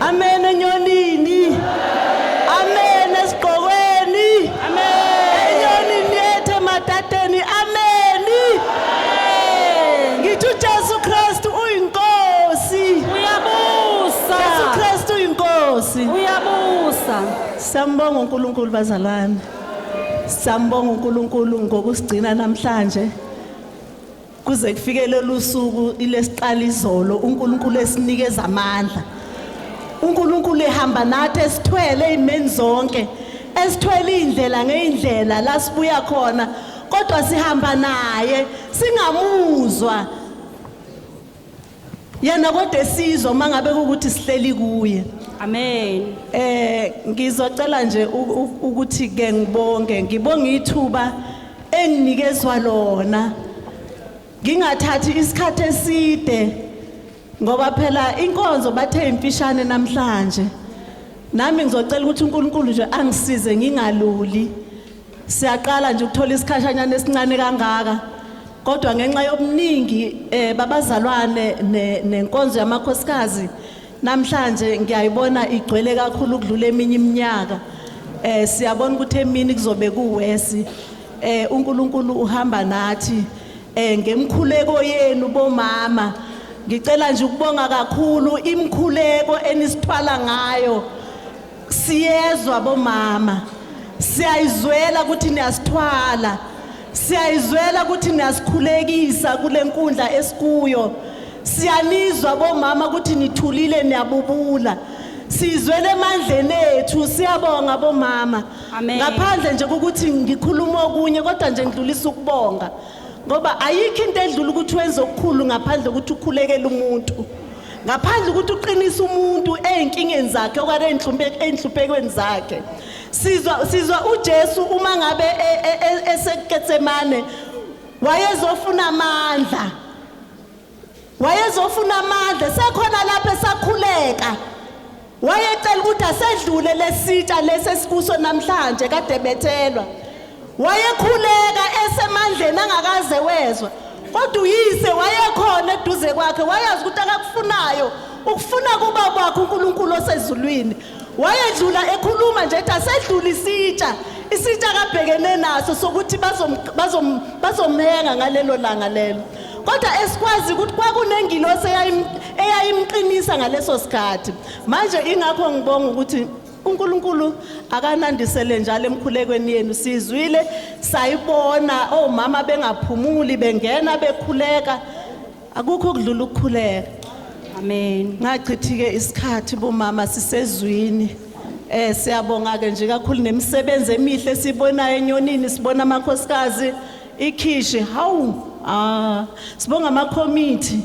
Amen enyonini. Amen esigqokweni. Amen. Enyonini yethu ematateni. Amen. Ngithi uJesu Kristu uyinkosi. Uyabusa. Jesu Kristu uyinkosi. Uyabusa. Sambonga uNkulunkulu bazalwane. Sambonga uNkulunkulu ngokusigcina namhlanje. kuze kufike lolu suku ilesiqala izolo uNkulunkulu esinikeza amandla uNkulunkulu ehamba nathi esithwele izimeni zonke esithwele indlela ngeindlela la sibuya khona kodwa sihamba naye singamuzwa Yena kodwa esizwa uma ngabe ukuthi sihleli kuye. Amen. Eh ngizocela nje ukuthi ke ngibonge, ngibonga ithuba enginikezwa lona. Ngingathathi isikhathi eside ngoba phela inkonzo bathe imfishane namhlanje. Nami ngizocela ukuthi uNkulunkulu nje angisize ngingaluli. Siyaqala nje ukuthola isikhashanyana esincane kangaka kodwa ngenxa yobuningi eh babazalwane nenkonzo yamakhosikazi namhlanje ngiyayibona igcwele kakhulu ukudlula eminye iminyaka eh siyabona ukuthi emini kuzobe kuwesi eh uNkulunkulu uhamba nathi eh ngemkhuleko yenu bomama ngicela nje ukubonga kakhulu imkhuleko enisithwala ngayo siyezwa bomama siyayizwela ukuthi niyasithwala siyayizwela ukuthi niyasikhulekisa kule nkundla esikuyo siyanizwa bomama ukuthi nithulile niyabubula sizwele emandleni ethu siyabonga bomama Amen. ngaphandle nje kokuthi ngikhuluma okunye kodwa nje ngidlulisa ukubonga ngoba ayikho into edlula ukuthi wenze okukhulu ngaphandle ukuthi ukhulekele umuntu ngaphandle ukuthi uqinise umuntu ezinkingeni zakhe okare enhluphekweni zakhe sizwa sizwa uJesu uma ngabe e, e, e, eseketsemane wayezofuna amandla wayezofuna amandla sekhona lapho esakhuleka Wayecela ukuthi asedlule lesitsha lesi esikuso namhlanje kade bethelwa. Wayekhuleka esemandleni angakaze wezwa. Kodwa uyise wayekhona eduze kwakhe wayazi ukuthi akakufunayo ukufuna kuba kwakhe uNkulunkulu osezulwini. Wayedlula ekhuluma nje ethi asedlule isitsha isitsha akabhekene naso sokuthi bazom bazom bazomenga ngalelo langa lelo. kodwa esikwazi ukuthi kwakunengilosi eyayimqinisa ngaleso sikhathi manje ingakho ngibonga ukuthi uNkulunkulu akanandisele njalo emkhulekweni yenu sizwile sayibona omama bengaphumuli bengena bekhuleka akukho kudlula ukukhuleka amen ngachithike isikhathi bomama sisezwini eh siyabonga ke nje kakhulu nemisebenzi emihle sibonayo enyonini sibona amakhosikazi ikhishi hawu ah sibonga amakhomithi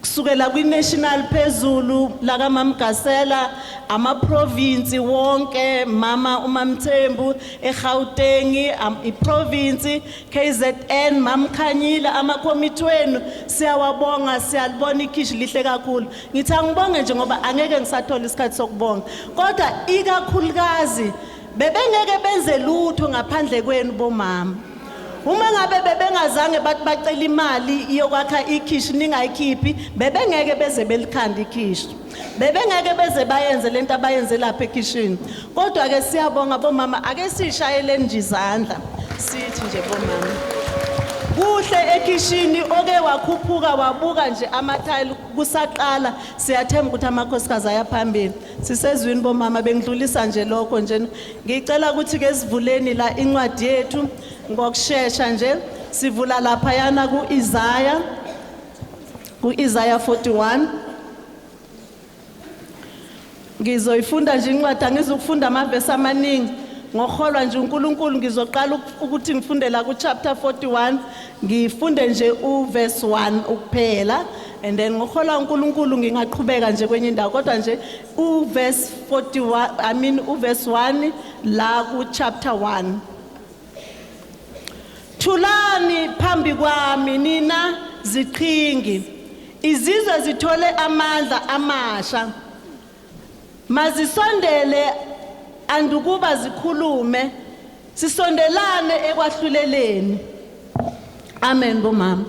kusukela kwi-national phezulu lakamamgasela amaprovinsi wonke mama umamthembu eGautengi iprovinsi KZN mamkhanyile amakhomithi wenu siyawabonga siyalibona ikhishi lihle kakhulu ngithi angibonge nje ngoba angeke ngisathola isikhathi sokubonga kodwa ikakhulukazi Bebengeke benze lutho ngaphandle kwenu bomama. Uma ngabe bebengazange bathi bacela imali yokwakha ikhishi ningayikhiphi, bebengeke beze belikhanda ikhishi. Bebengeke beze bayenze lento abayenze lapha ekhishini. Kodwa ke siyabonga bomama ake sishayeleni nje izandla. Sithi nje bomama. Kuhle ekhishini oke wakhuphuka wabuka nje amathayili kusaqala siyathemba ukuthi amakhosikazi ayaphambili. Sisezwini bomama bengidlulisa nje lokho nje ngicela ukuthi ke sivuleni la incwadi yethu ngokushesha nje sivula lapha yana kuIsaya kuIsaya 41 Ngizoyifunda nje incwadi angizukufunda amavesi amaningi ngoholwa nje uNkulunkulu ngizoqala ukuthi ngifundela ku chapter 41 Ngifunde nje u verse 1 ukuphela and then ngohola uNkulunkulu ngingaqhubeka nje kwenye indawo kodwa nje u verse 41 I mean u verse 1 la ku chapter 1 Thulani phambi kwami nina ziqhingi izizwe zithole amandla amasha Mazisondele andukuba zikhulume sisondelane ekwahluleleni. Amen bomama.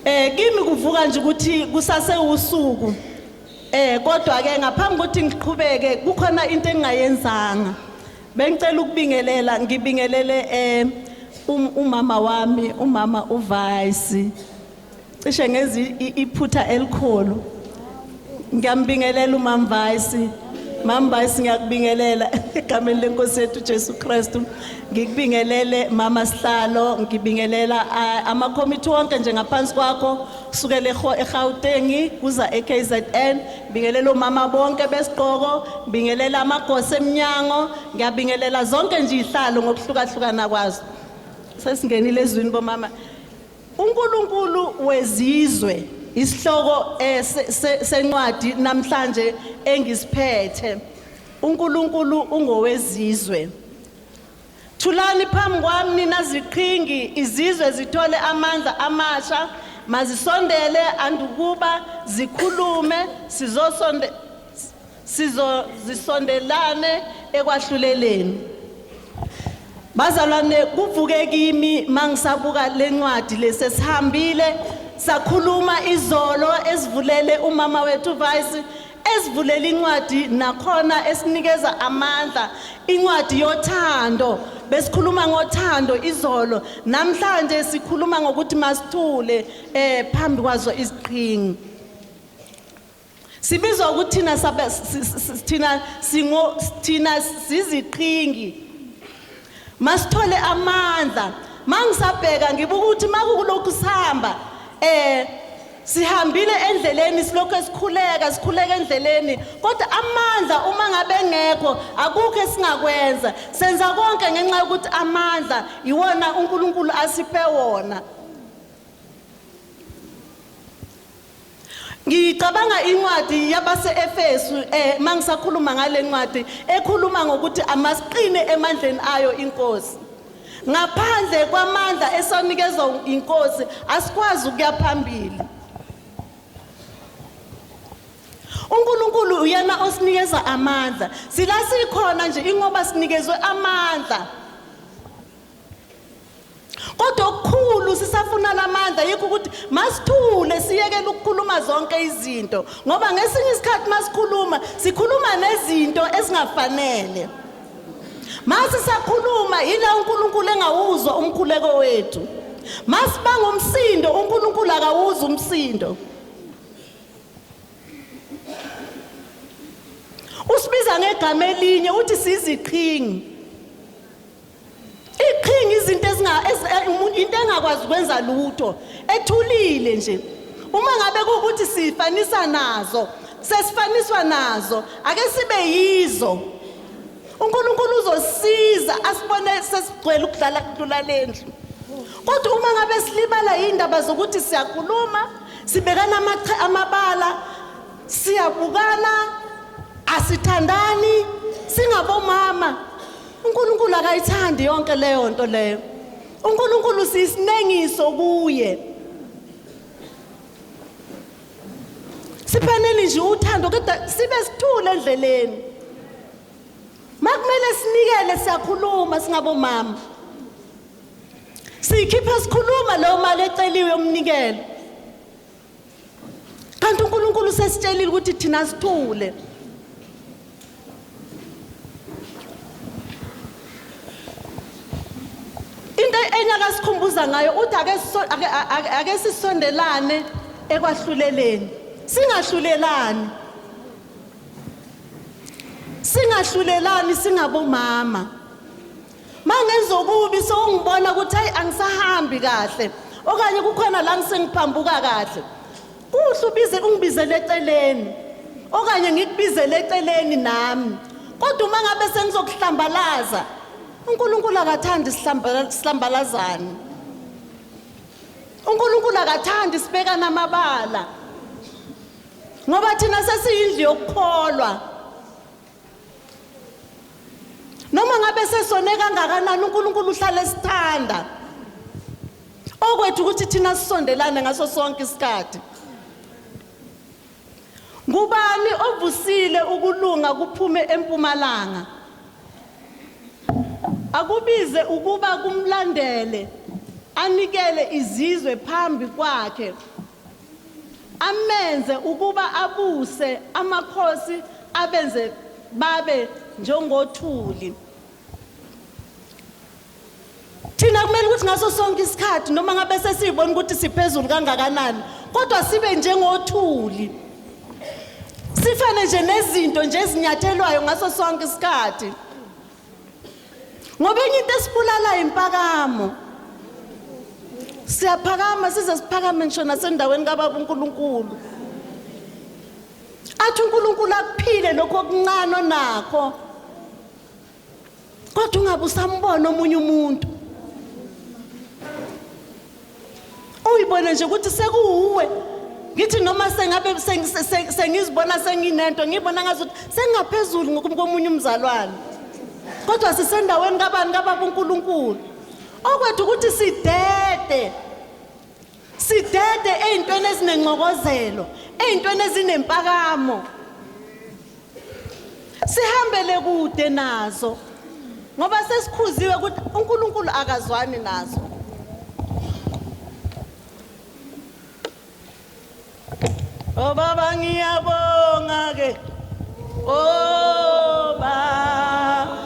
Eh kimi kuvuka nje ukuthi kusase usuku. Eh kodwa ke ngaphambi ukuthi ngiqhubeke kukhona into engingayenzanga. Bengicela ukubingelela ngibingelele eh um, umama wami umama uVice cishe ngezi iphutha elikhulu ngiyambingelela umamvayisi mamvayisi ngiyakubingelela egameni lenkosi yethu jesu kristu ngikubingelele mama sihlalo ngibingelela amakhomithi wonke nje ngaphansi kwakho kusukela erhawutengi kuza ekzn ngibingelela omama bonke besiqoko ngibingelela amagosi emnyango ngiyabingelela zonke nje ihlalo ngokuhlukahlukana kwazo sesingenile ezwini bomama UNkulunkulu wezizwe isihloko eh, se- se- sencwadi namhlanje engisiphethe. UNkulunkulu ungowezizwe. Thulani phambi kwami nina ziqhingi izizwe zithole amandla amasha mazisondele andukuba zikhulume sizosonde sizozisondelane ekwahluleleni. Bazalwane kuvuke kimi mangisabuka lencwadi lesesihambile sakhuluma izolo esivulele umama wethu vice esivulela incwadi nakhona esinikeza amandla incwadi yothando besikhuluma ngothando izolo namhlanje sikhuluma ngokuthi masithule eh phambi kwazo iziqhingi Sibizwa ukuthi thina sabe- si- si- si- thina singo thina siziqhingi. Masithole amandla. Mangisabheka ngibuka ukuthi makukulokhu sihamba eh sihambile endleleni silokhu esikhuleka sikhuleka endleleni kodwa amandla uma ngabe engekho akukho esingakwenza senza konke ngenxa yokuthi amandla iwona uNkulunkulu asiphe wona Ngicabanga incwadi yabase-Efesu um eh, uma ngisakhuluma ngale ncwadi ekhuluma ngokuthi amasiqine emandleni ayo inkosi. Ngaphandle kwamandla esanikezwa inkosi asikwazi ukuya phambili. uNkulunkulu uyena osinikeza amandla sila sikhona nje ingoba sinikezwe amandla kodwa okukhulu sisafuna lamandla yikho ukuthi masithule siyekele ukukhuluma zonke izinto ngoba ngesinye isikhathi masikhuluma sikhuluma nezinto ezingafanele mase sakhuluma yila uNkulunkulu engawuzwa umkhuleko wethu masibanga umsindo uNkulunkulu akawuzi umsindo usibiza ngegama elinye uthi siziqhingi iqhinga izinto ezinga ezi- eh, umuntu into engakwazi ukwenza lutho ethulile nje uma ngabe kukuthi sifanisa nazo sesifaniswa nazo ake sibe yizo uNkulunkulu uzosiza asibone sesigcwele ukudlala kudlula lendlu kodwa uma ngabe silimala yindaba zokuthi siyakhuluma sibekana amache amabala siyabukana asithandani singabomama uNkulunkulu akayithandi yonke leyo nto leyo uNkulunkulu sisinengiso kuye siphaneli nje uthando kodwa sibe sithule endleleni makumele sinikele siyakhuluma singabomama siyikhiphe sikhuluma leyo mali eceliwe yomnikelo kanti uNkulunkulu sesitshelile ukuthi thina sithule into enye akasikhumbuza ngayo uthi ake sisondelane ekwahluleleni singahlulelani singahlulelani singabomama mangenza okubi sewungibona ukuthi hayi angisahambi kahle okanye kukhona la ngisengiphambuka kahle kuhle ubize ungibizele eceleni okanye ngikubizele eceleni nami kodwa uma ngabe sengizokuhlambalaza uNkulunkulu akathandi sihlambalazane uNkulunkulu akathandi sibekana amabala ngoba thina sesiyindlu yokukholwa noma ngabe sesone kangakanani uNkulunkulu uhlale esithanda okwethu ukuthi thina sisondelane ngaso sonke isikhathi ngubani ovusile ukulunga kuphume empumalanga akubize ukuba kumlandele anikele izizwe phambi kwakhe Amenze ukuba abuse amakhosi abenze babe njengothuli. Thina kumele ukuthi ngaso sonke isikhathi noma ngabe sesibona ukuthi siphezulu kangakanani kodwa sibe njengothuli. Sifane nje nezinto nje ezinyathelwayo ngaso sonke isikhathi. ngoba enye into esibulalayo impakamo siyaphakama size siphakame ngisho nasendaweni kababa uNkulunkulu athi uNkulunkulu akuphile lokho okuncane onakho kodwa ungabe usambona omunye umuntu uyibone nje ukuthi sekuwuwe ngithi noma sengabe sengizibona senginento ngibona ngathi sengaphezulu ngomunye umzalwane kodwa sisendaweni kabani kababa uNkulunkulu okwethu ukuthi sidede sidede ezintweni ezinencokozelo ezintweni ezinempakamo sihambele kude nazo ngoba sesikhuziwe ukuthi uNkulunkulu akazwani nazo Oh baba ngiyabonga ke Oh baba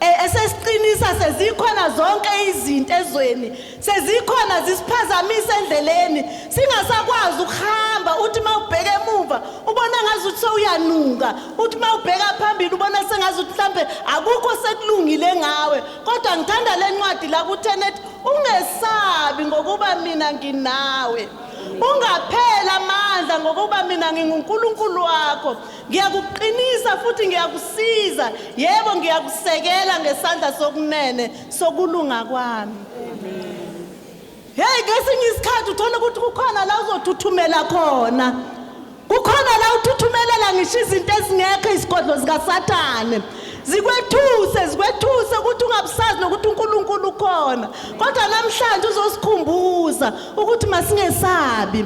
E, esesiqinisa sezikhona zonke izinto ezweni sezikhona zisiphazamisa endleleni singasakwazi ukuhamba uthi uma ubheke emuva ubona ngazi ukuthi sewuyanuka uthi uma ubheka phambili ubona sengazi ukuthi mhlampe akukho sekulungile ngawe kodwa ngithanda le ncwadi la kuthenet ungesabi ngokuba mina nginawe ungaphela amandla ngokuba mina ngingunkulunkulu wakho Ngiyakuqinisa futhi ngiyakusiza. Yebo, ngiyakusekela ngesandla sokunene sokulunga kwami. Hey, ngesinye isikhathi uthola ukuthi kukhona la uzothuthumela khona. Kukhona la uthuthumelela ngisho izinto ezingekho izigodlo zikaSathane. Zikwethuse, zikwethuse ukuthi ungabusazi nokuthi uNkulunkulu ukhona. Kodwa namhlanje uzosikhumbuza ukuthi masingesabi.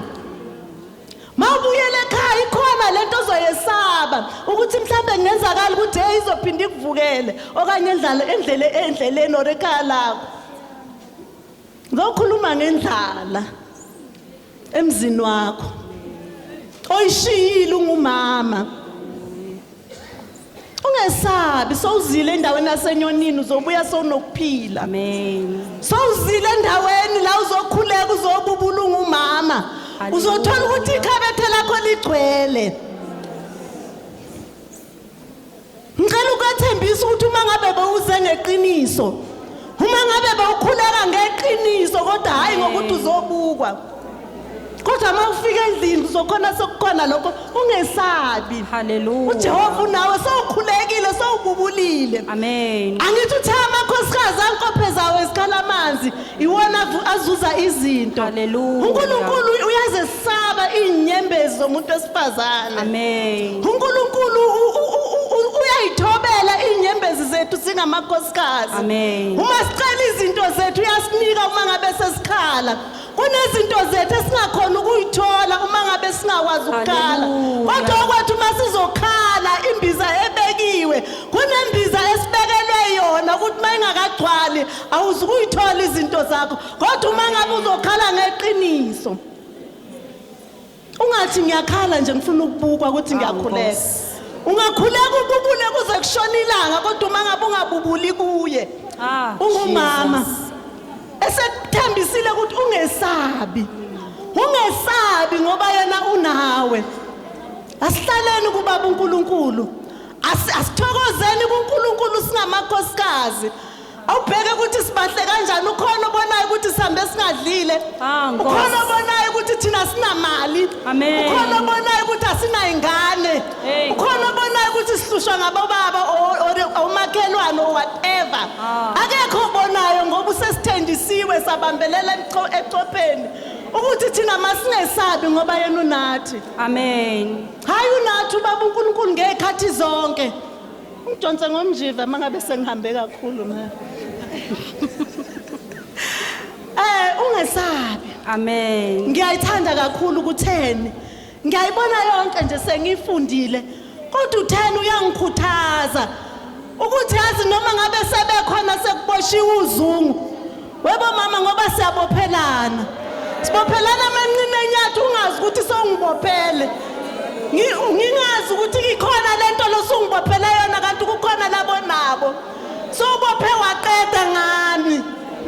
Mawubuyela ekhaya ikhona lento ozoyesaba ukuthi mhlambe kungenzakala ukuthi hey izophinda ikuvukele okanye endlala endlele endleleni or ekhaya lakho. Ngokhuluma ngendlala emzini wakho. Oyishiyile ungumama. ungesabi sowuzile endaweni yasenyonini uzobuya sowunokuphila Amen. sowuzile endaweni la uzokhuleka uzobubulunga umama uzothola ukuthi ikhabethe lakho ligcwele ngicela ukwethembisa ukuthi uma ngabe bewuze ngeqiniso uma ngabe bawukhuleka ngeqiniso kodwa hhayi ngokuthi uzobukwa kodwa uma ufika endlini uzokhona sokukhona lokho ungesabi Hallelujah. ujehova unawe sowukhulekile sowububulile Amen. angithi uthe amakhosikazi ankophe zawo ezikhala amanzi iwona avu- azuza izinto Hallelujah. unkulunkulu uyaze Saba inyembezi zomuntu wesifazane. Amen. UNkulunkulu u- u- u- u- uyayithobela inyembezi zethu singamakhosikazi. Amen. Uma sicela izinto zethu uyasinika uma ngabe sesikhala. Kunezinto zethu esingakhona ukuyithola uma ngabe singakwazi ukukhala. Hallelujah. Kodwa okwethu uma sizokhala imbiza ebekiwe, kunembiza esibekelwe yona ukuthi uma ingakagcwali awuzukuyithola izinto zakho. Kodwa uma ngabe uzokhala ngeqiniso. Ungathi ngiyakhala nje ngifuna ukubukwa ukuthi ngiyakhuleka. Ungakhuleka ububule kuze kushona ilanga kodwa uma ngabe ungabubuli kuye. Ah, Ungumama. Esekuthembisile ukuthi ungesabi. Ungesabi ngoba yena unawe. Asihlaleni kubaba uNkulunkulu. Asithokozeni kuNkulunkulu singamakhosikazi. awubheke ukuthi sibahle kanjani ukhona obonayo ukuthi sihambe singadlile Ah, Nkosi. ukhona obonayo ukuthi thina sinamali Amen. ukhona obonayo ukuthi asinayingane Hey. ukhona obonayo ukuthi sihlushwa ngabobaba o- o- omakhelwane or whatever Ah. akekho obonayo ngoba usesithenjisiwe sabambelela emcho- ecopheni ukuthi thina masingesabi ngoba yena unathi amen hhayi unathi ubaba unkulunkulu ngey'khathi zonke Ngidonse ngomjiva mangabe sengihambe kakhulu ma. Eh ungesabi. Amen. Ngiyayithanda kakhulu ukutheni. Ngiyayibona yonke nje sengifundile. Kodwa utheni uyangikhuthaza ukuthi yazi noma ngabe sebekhona sekuboshiwe uzungu. Webo mama ngoba siyabophelana. Sibophelana amanqina enyathi ungazi ukuthi songibophele. Ngingazi ukuthi ikhona lento losungibophela yona kanti kukhona labo nabo. Sobophe waqeda ngami.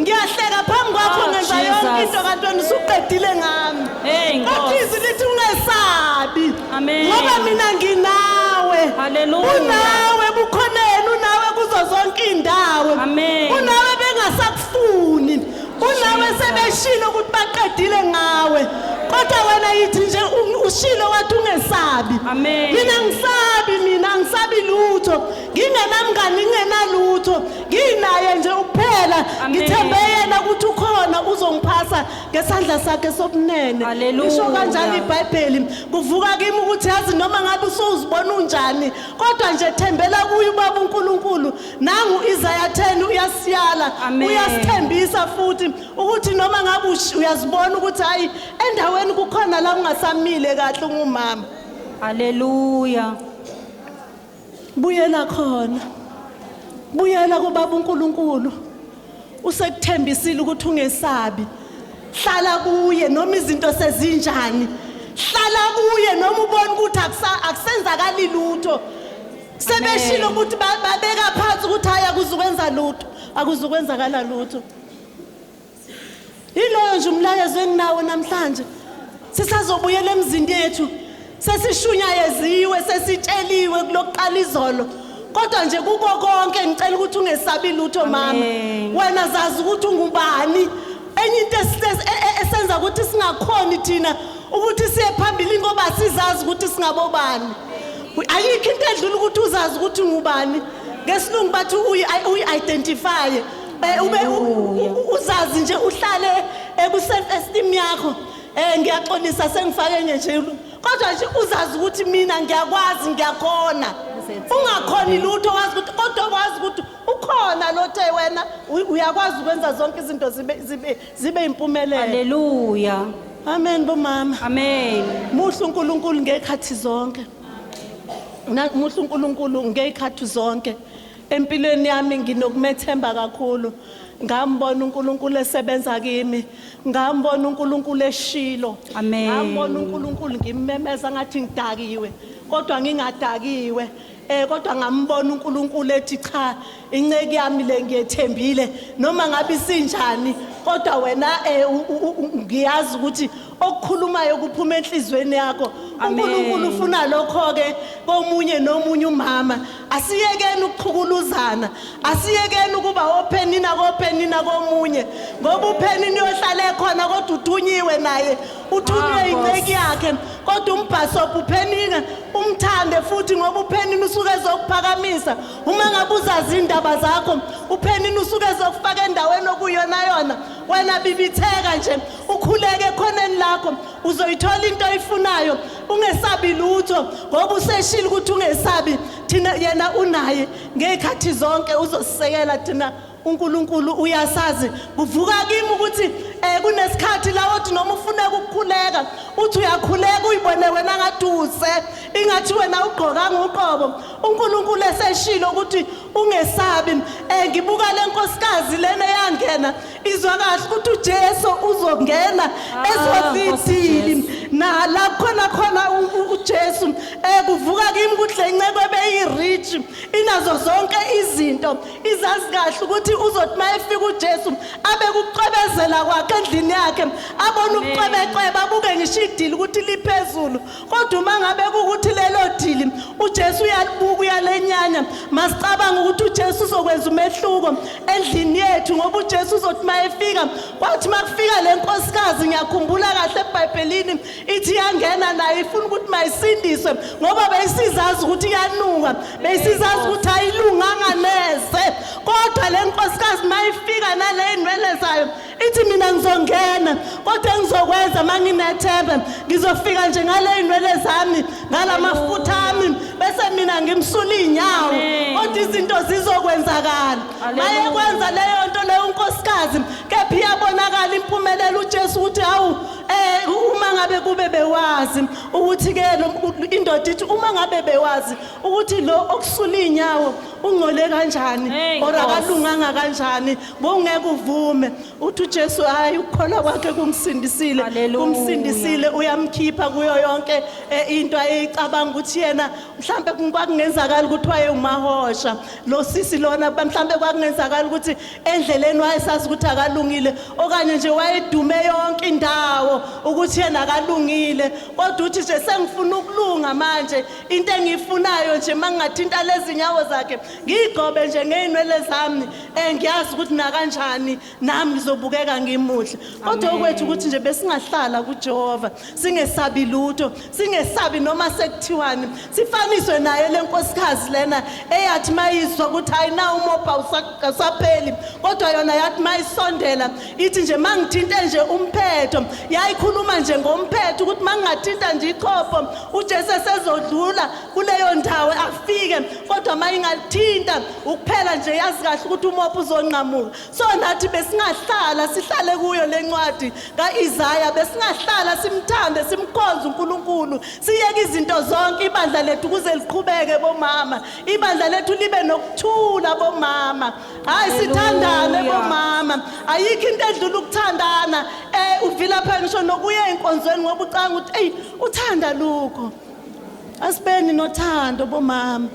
Ngiyahleka phambi kwakho oh, ngenza yonke into kanti wena usuqedile ngami. Hey Nkosi. Kodwa izwi lithi ungesabi. Amen. ngoba mina nginawe Hallelujah. unawe bukhoneni unawe kuzo zonke iy'ndawo Amen. unawe bengasakufuni unawe sebeshilo ukuthi baqedile ngawe kodwa wena yithi nje u- ushilo wathi ungesabi Amen. mina ngisabi mina angisabi lutho ngingenamngani ngingenalutho nginaye nje ukuphela Amen. ngithembe yena ukuthi ukhona uzongiphasa ngesandla sakhe sokunene Hallelujah. isho kanjalo ibhayibheli kuvuka kimi ukuthi yazi noma ngabe usuzibona unjani kodwa nje thembela kuye ubaba unkulunkulu nangu isaya 10 uyasiyala Amen. uyasithembisa futhi ukuthi noma ngabe ush- uyazibona ukuthi hayi endaweni kukhona la ungasamile kahle ungumama Hallelujah. Buyela khona. Buyela kubaba uNkulunkulu. Usekuthembisile ukuthi ungesabi. Hlala kuye noma izinto sezinjani. Hlala kuye noma ubona ukuthi akusenzakali lutho. Sebeshilo ukuthi babeka phansi ukuthi haya kuzukwenza lutho. Akuzukwenzakala lutho. Yiloyo nje umlayezo enginawo namhlanje. Sisazobuyela emzini yethu. Sesishunyayeziwe, sesitsheliwe kulokuqala izolo. Kodwa nje kuko konke ngicela ukuthi ungesabi lutho mama. Amen. Wena zazi ukuthi ungubani. Enye into esite- e- e- esenza ukuthi singakhoni thina ukuthi siye phambili ngoba sizazi ukuthi singabobani. Ayikho into edlula ukuthi uzazi ukuthi ungubani. Ngesilungu bathi uyi- uyi-identify. Eh, ube u- u- uzazi nje uhlale eku-self esteem yakho um ngiyaxolisa sengifake ngejelu kodwa nje uzazi ukuthi mina ngiyakwazi ngiyakhona ungakhoni lutho wazi ukuthi kodwa wazi ukuthi ukhona lothe wena u- uyakwazi ukwenza zonke izinto zibe- zibe- zibe yimpumelelo Hallelujah. amen bomama Amen. muhle unkulunkulu ngey'khathi zonke Na- muhle unkulunkulu ngey'khathi zonke Empilweni yami nginokumethemba kakhulu. Ngambona uNkulunkulu esebenza kimi. Ngambona uNkulunkulu eshilo. Amen. Ngambona uNkulunkulu ngimmemeza ngathi ngidakiwe kodwa ngingadakiwe. Eh kodwa ngambona uNkulunkulu ethi cha inceke yami le ngiyethembile noma ngabe isinjani kodwa wena eh u- u- u- ngiyazi ukuthi okukhulumayo kuphuma enhlizweni yakho Amen. unkulunkulu ufuna lokho-ke komunye nomunye umama asiyekeni ukuchukuluzana asiyekeni ukuba ophenina kophenina komunye ngoba uphenini uyohlala ekhona kodwa uthunyiwe naye uthunywe Ah, Nkosi. inceki yakhe kodwa umbhasobha uphenina umthande futhi ngoba uphenini usuke ezokuphakamisa uma ngabe uzazi iy'ndaba zakho uphenini usuke ezokufaka endaweni okuyona yona wena bibitheka nje ukhuleke ekhoneni lakho uzoyithola into oyifunayo ungesabi lutho ngoba useshile ukuthi ungesabi thina yena unaye ngey'khathi zonke uzosisekela thina uNkulunkulu uyasazi kuvuka kimi ukuthi eh kunesikhathi la othi noma ufuna ukukhuleka uthi uyakhuleka uyibone wena ngaduze ingathi wena ugqoka ngoqobo uNkulunkulu eseshilo ukuthi ungesabi eh ngibuka lenkosikazi lena yangena Izwa kahle ukuthi uJesu uzongena Ah, ezozidili Nkosi nala khona khona u- u- uJesu eh kuvuka kimi ukuthi lenceko ebeyirich inazo zonke izinto izazi kahle ukuthi uzothi mayefika uJesu abe kucwebezela kwakhe endlini yakhe abone ubucwebecwebe abuke ngisho idili ukuthi liphezulu Kodwa uma ngabe kukuthi lelo dili uJesu uyalibuka uyalenyanya, masicabanga ukuthi uJesu uzokwenza umehluko endlini yethu ngoba uJesu uzothi mayefika, kwathi makufika lenkosikazi ngiyakhumbula kahle eBhayibhelini ithi yangena naye ifuna ukuthi mayisindiswe ngoba beyisizazi ukuthi iyanuka, beyisizazi ukuthi ayilunganga neze. Kodwa lenkosikazi mayifika naleyinwele zayo ithi mina ngizongena kodwa engizokwenza uma nginethembe ngizofika nje ngale iy'nwele zami ngala mafutha ami bese mina ngimsula iy'nyawo kodwa izinto zizokwenzakala maye kwenza leyo nto leyo unkosikazi kepha iyabonakala impumelelo ujesu ukuthi hawu um uma ngabe kube bewazi ukuthi-ke indoda ithi uma ngabe bewazi ukuthi lo okusula iy'nyawo ungcole kanjani or akalunganga kanjani Bongeke uvume uthi uJesu hayi ukukholwa kwakhe kumsindisile Hallelujah. kumsindisile uyamkhipha kuyo yonke eh, into ayicabanga ukuthi yena mhlambe kwakungenzakala ukuthi wayewumahosha lo sisi lona ba- mhlambe kwakungenzakala ukuthi endleleni wayesazi ukuthi akalungile okanye nje wayedume yonke indawo ukuthi yena akalungile kodwa uthi nje sengifuna ukulunga manje into engiyifunayo nje mangingathinta lezi nyawo zakhe ngiyigcobe nje ngey'nwele zami um ngiyazi ukuthi nakanjani nami ngizobukeka ngimuhle kodwa okwethu ukuthi nje besingahlala kujehova singesabi lutho singesabi noma sekuthiwani sifaniswe naye le nkosikazi lena eyathi mayizwa ukuthi hayi na umobha usapheli kodwa yona yathi mayisondela ithi nje ma ngithinte nje umphetho yayikhuluma nje ngomphetho ukuthi ma ngingathinta nje ichopho ujesu esezodlula kuleyo ndawo afike kodwa uma ingalithinta ukuphela nje yazi kahle ukuthi umopha uzonqamuka so nathi besingahlala sihlale kuyo le ncwadi ka-isaya besingahlala simthande simkhonze unkulunkulu siyeke izinto zonke ibandla lethu kuze liqhubeke bomama ibandla lethu libe nokuthula bomama hhayi sithandane bomama ayikho into edlula ukuthandana um eh, uvilapha ngisho nokuya enkonzweni ngoba ucanga ukuthi eyi uthanda lukho Asibeni nothando bomama.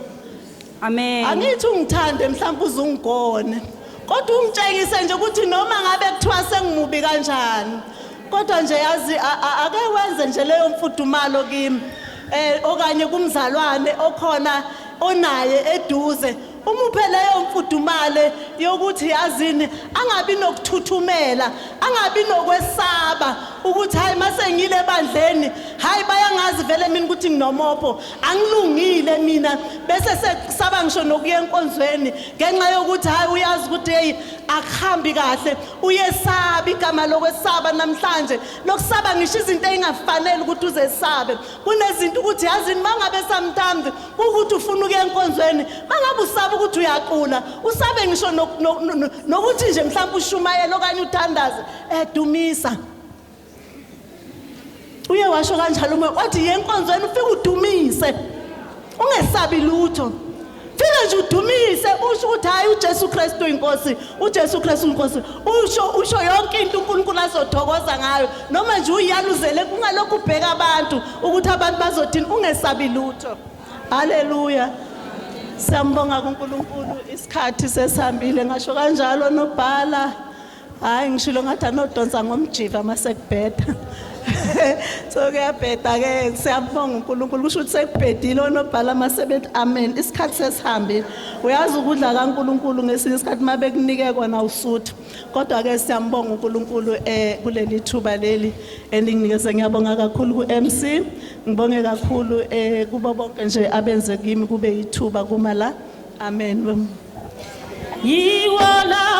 Amen. Angithi ungithande mhlawumbe uzungigone. Kodwa ungitshengise nje ukuthi noma ngabe kuthiwa sengimubi kanjani. Kodwa nje yazi a- a- ake wenze nje leyo mfudumalo kimi. Eh okanye kumzalwane okhona onaye eduze Umuphe leyo mfudumale yokuthi yazini angabi nokuthuthumela, angabi nokwesaba ukuthi hayi mase ngile ebandleni, hayi bayangazi vele mina ukuthi nginomopho, angilungile mina bese sekusaba ngisho nokuya enkonzweni ngenxa yokuthi hayi uyazi ukuthi hey akuhambi kahle, uyesaba igama lokwesaba namhlanje, lokusaba ngisho izinto engafanele ukuthi uzesabe. kunezinto ukuthi yazini mangabe sometimes ukuthi ufuna ukuya enkonzweni mangabe usaba ukuthi uyacula usabe ngisho nokuthi nje mhlawumbe ushumayela okanye uthandaze edumisa eh, uye washo kanjalo uma wathi yenkonzweni ufike udumise ungesabi lutho Fika nje udumise usho ukuthi hayi uJesu Kristu uyinkosi, uJesu Kristu unkosi. Usho usho yonke into uNkulunkulu azothokoza ngayo. Noma nje uyaluzele kungalokhu ubheka abantu ukuthi abantu bazothini ungesabi lutho. Haleluya. Siyambonga kuNkulunkulu isikhathi sesihambile ngasho kanjalo nobhala hayi ngishilo ngathi anodonsa ngomjiva uma sekubheda so kuyabheda-ke siyabonga unkulunkulu kusho ukuthi sekubhedile onobhala uma sebethi amen isikhathi sesihambile uyazi ukudla kankulunkulu ngesinye isikhathi uma bekunike kona usuthu kodwa-ke siyambonga unkulunkulu um kuleli thuba leli elinginikeze ngiyabonga kakhulu ku-m c ngibonge kakhulu um kubo bonke nje abenze kimi kube yithuba kuma la amen yiwo lawo